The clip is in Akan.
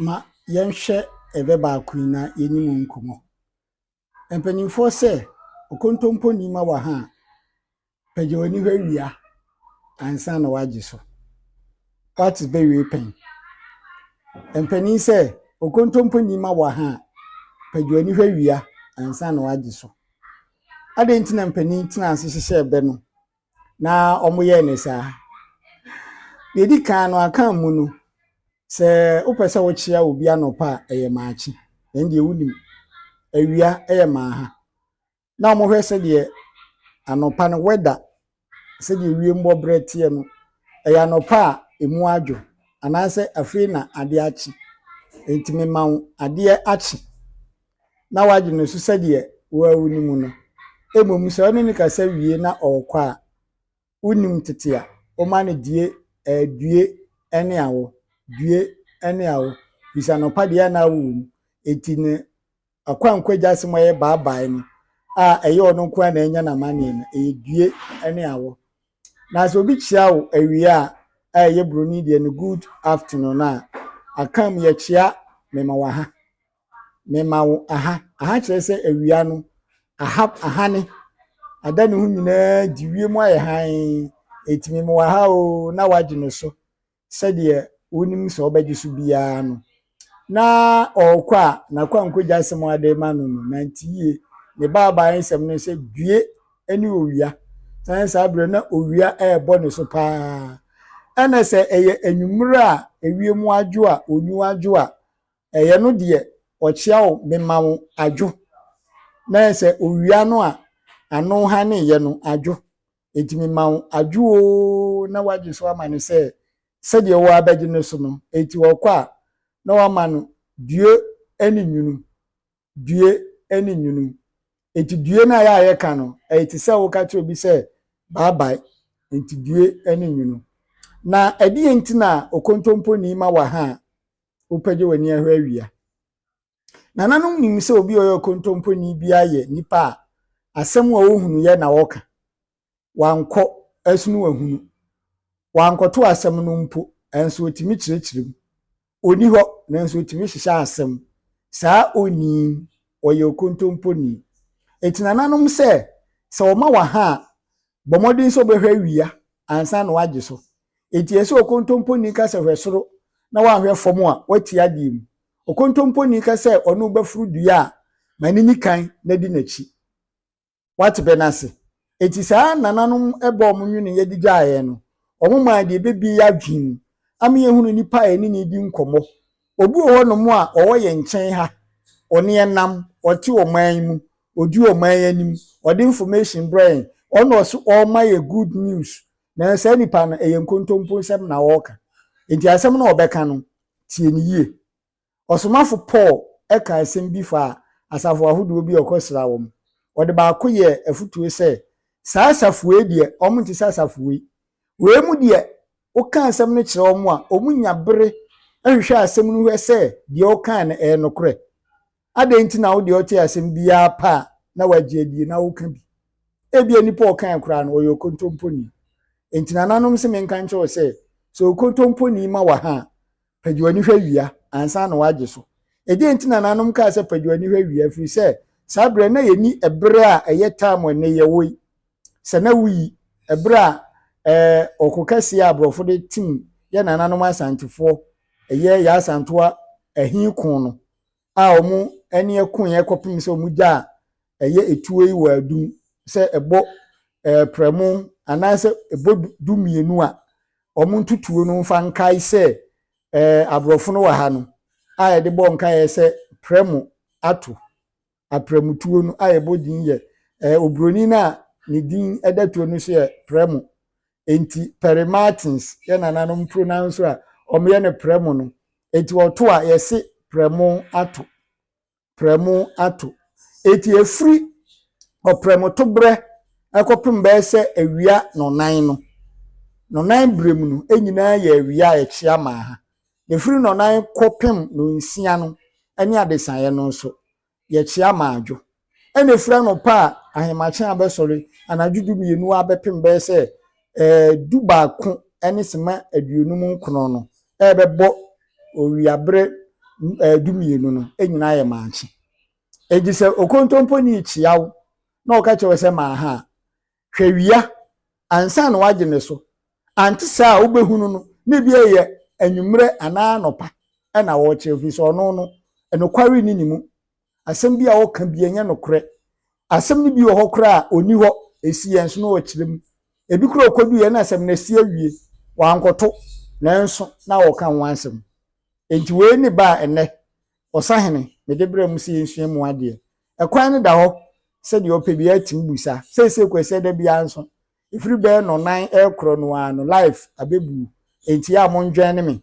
ma yɛnhwɛ ɛbɛ baako yi na yɛnni mu nkɔmmɔ. Mpanimfoɔ sɛ, okontompo nni ma wɔ ha a, pagya w'ani hwɛ wia ansa na woagye so. What is bɛwie pɛn? Mpanin sɛ, okontompo nni ma wɔ ha a, pagya w'ani hwɛ wia ansa na woagye so. Adɛn nti na mpanin tena ase hyehyɛ ɛbɛ no? na wɔyɛɛ no saa. Deɛ ɛdi kan no, aka mu no, sɛ wopɛ sɛ wokyea obi anɔpa a, ɛyɛ maakye. Ɛn deɛ wonim. Awia yɛ maaha. Na wɔhwɛ sɛdeɛ anɔpa no wɛda, sɛdeɛ wiem bɔ berɛ teɛ no, ɛyɛ anɔpa a ɛmu adwo anaasɛ afei na adeɛ akye. Nti mema wo adeɛ akye. na wagye no so sɛdeɛ woawu no mu no, mmom sɛ wone no kasa wie na ɔrekɔ a, wonim tete a, woma no die, eh, due ne awo, due ne awo, firi sɛ anɔpa deɛ na awo wɔ mu. Enti ne akwankwa agya asɛm a ɛyɛ baabae no, a ɛyɛ ɔno nko ara na ɛnya n'amanneɛ no, ɛyɛ due ne awo. Na sɛ obi kyea wo awia a, a ɛyɛ buroni deɛ no good afternoon a, aka mu yɛkyea me ma waha. Mema wo aha. Aha kyerɛ sɛ awia no, aha, ahane. Ada ne ho nyinaa di wiem ayɛ hann. Enti mema wo aha oo na woagye no so sɛdeɛ wonim sɛ wobɛgye so biara no. Na ɔrekɔ a, n'akwankogya asɛm a ɔde rema no no, nante yie. Ne baabae nsɛm no ne sɛ, Due ne owia. Sane saa berɛ na owia rebɔ ne so paa. Ɛna sɛ ɛyɛ anwummere a ewiem adwo a, onwu adwo a, Ɛyɛ no deɛ ɔkyea wo mema wo adwo na sɛ owia no a ano hane yɛ no adwo enti mema wo adwo oo na wagye so ama no sɛ sɛdeɛ wo ara bɛgye no so no enti ɔkɔ a na wama no due ne nwunu due ne nwunu enti due no a yɛ a yɛka no ɛyɛ te sɛ woka kyerɛ obi sɛ bye bye enti due ne nwunu na ɛdeɛ nti na okontompo ni ma wɔ ha a Wopɛgye w'ani ahwɛ awia. Nananom nim sɛ obi a ɔyɛ ɔkontomponi biara yɛ nipa a asɛm a ɔhunu yɛ na ɔka. Wankɔ ɛsono wahunu. Wankɔto asɛm no mpo, nanso ɔtumi kyerɛkyerɛ mu. Ɔni hɔ, nanso ɔtumi hyehyɛ asɛm. Saa onii, ɔyɛ ɔkontomponi. Ɛti nananom sɛ, sɛ ɔma waha a, Bɔ mmɔden sɛ wobɛhwɛ awia ansa na woagye so. Enti ɛsɛ sɛ okontomponi ka sɛ hwɛ soro na woanhwɛ fam a, woati adeɛ mu. Okontomponi ka sɛ ɔne wo bɛforo dua a, ma no nyi kan na di n'akyi. Woate bɛ no ase? Enti saa nananom bɔ a wɔnweneeɛ de gyaa yɛn no, wɔmaa deɛ ɛbɛbue yɛn adwene mu ama yɛhunu nnipa a yɛne no redi nkɔmmɔ Obi wɔ hɔnom a ɔwɔ yɛn nkyɛn ha, ɔne yɛn nam, ɔte ɔman yi mu, ɔdi ɔman yi anim, ɔde information brɛ yɛn, ɔno na ɔse ɔrema yɛn good news, nanso saa nipa no ɛyɛ nkontompo nsɛm na ɔreka, enti asɛm no a ɔbɛka no, tie no yie. Ɔsomafo Paul kaa asɛm bi faa asafo ahodoɔ bi a ɔkɔsraa wɔn. Ɔde baako yɛɛ afotuo sɛ, Saa asafo wei deɛ, wɔnte sɛ asafo wei, Wei mu deɛ woka asɛm no kyerɛ wɔn a, wɔnya bere hwehwɛ asɛm no hwɛ sɛ deɛ wokae no ɛyɛ nokorɛ. Adɛn nti na wo deɛ wotee asɛm bi ara pɛ a na woagye adie na woka bi? Ebia nipa a ɔkae koraa no, ɔyɛ okontomponi. Enti nananom se menka nkyerɛ wo sɛ, sɛ okontomponi ma wo aha a, Pagya w'ani hwɛ awia ansa na woagye so. Ɛdeɛn nti na nananom kaa sɛ pagya w'ani hwɛ awia? Ɛfiri sɛ, saa berɛ no, na yɛnni ɛberɛ a ɛyɛ time a ɛnnɛ yɛwɔ yi. Sɛ na woyi ɛberɛ a ɛɛ ɔko kɛseɛ a aborɔfo de tim yɛn nananom Asantefoɔ, ɛyɛ Yaa Asantewaa ahi ko no, a wɔn ani koeɛ kɔpem sɛ wɔn gya a ɛyɛ tuo yi wɔ adum sɛ ɛbɔ ɛɛ prɛmo anaasɛ ɛbɔ du mmienu a, wɔn ntutuo no mfa nkae sɛ ɛɛ aborɔfo no wɔ ha no a yɛde bɔ nkaeɛ sɛ prɛmo ato. Aprɛmotuo no a yɛbɔ din yɛ ɛɛ oburoni no a ne din da tuo no so yɛ prɛmo. Enti pere Martins yɛ nananom pronounso a wɔyɛ no prɛmo no. Enti ɔto a, yɛse prɛmo ato, prɛmo ato. Enti ɛfiri ɔprɛmotoberɛ kɔpem bɛyɛ sɛ awia nnɔnan no, nnɔnan berɛ mu no nyinaa yɛ awia a ɛkyea ma ha. Na ɛfiri nnɔnan kɔpem nnɔnsia no ne adesaeɛ no nso, Yɛkye amadwo na ɛfiri anɔpa a ahemakye abɛsɔre anadwo du mmienu ara bɛpem bɛyɛ sɛ du baako ne sima aduonum nkron no rebɛbɔ owiaberɛ du mmienu no nyinaa yɛ maakye. Enti sɛ okontompo ni kyea wo na ɔka kyerɛ wo sɛ maaha a, Hwɛ wia ansa na wagye ne so. Ante saa a, wobɛhu no no, na ebi ɛyɛ anwummerɛ anaa anɔpa na ɔrekyerɛ, ɛfiri sɛ ɔno no, nokware nni ne mu. Asɛm bi a ɔka bi ɛnyɛ nokorɛ. Asɛm no bi wɔ hɔ koraa a, ɔnni hɔ, ɛsi yɛn so na ɔkyerɛ mu. Ebi koraa ɔkɔduiɛ na asɛm no asi awie, wankɔto, nanso na ɔreka ho asɛm. Enti wei ne ba a ɛnnɛ Ɔsahene, mede bra mu sɛ yɛnsua mu adeɛ. Ɛkwan no da hɔ sɛ deɛ ɔpɛ biara tumi bu sa. Seesei koraa sɛ da biara nso, ɛfiri bɛyɛ nnɔnnan rekorɔ no ara no, live abɛbu. Enti yɛ a monnwɛne me